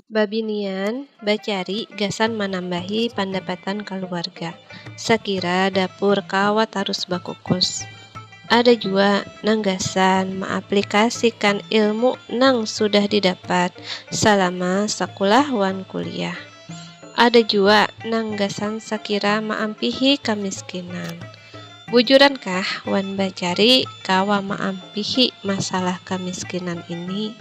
Babinian bacari gasan manambahi pandapatan kaluarga, sakira dapur kawa tarus bakukus. Ada jua nang gasan maaplikasikan ilmu nang sudah didapat salama sakulah wan kuliah. Ada jua nang gasan sakira maampihi kamiskinan. Bujurankah wan bacari kawa maampihi masalah kamiskinan ini?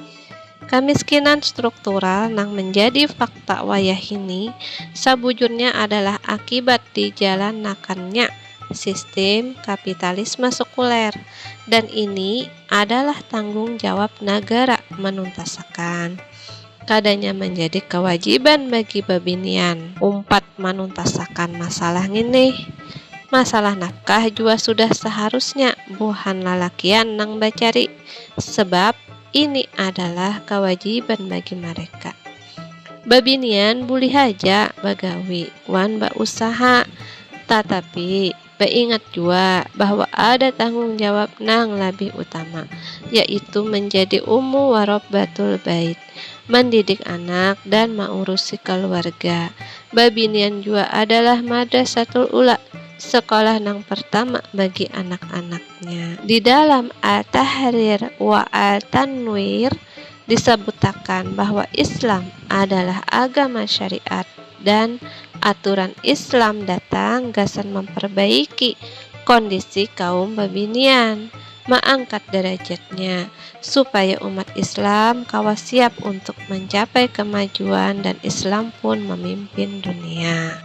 Kamiskinan struktural nang menjadi fakta wayahini sabujurnya adalah akibat dijalanakannya sistim kapitalisme sekuler, dan ini adalah tanggung jawab nagara manuntasakan. Kadanya manjadi kawajiban bagi babinian umpat manuntasakan masalah ngini. Masalah nafkah jua sudah saharusnya buhan lalakian nang bacari, sebab. Ini adalah kawajiban bagi mareka. Babinian bulih haja bagawi wan bausaha, tatapi baingat jua bahwa ada tanggung jawab nang labih utama, yaitu manjadi ummu warobbatul bait, mandidik anak dan maurusi kaluarga. Babinian jua adalah madrasatul ula, sekolah nang pertama bagi anak-anak. Nya. Di dalam At-Tahrir wa At-Tanwir disabutakan bahwa Islam adalah agama syariat dan aturan Islam datang gasan mamparbaiki kondisi kaum babinian, maangkat darajatnya, supaya umat Islam kawa siap untuk mancapai kamajuan dan Islam pun mamimpin dunia.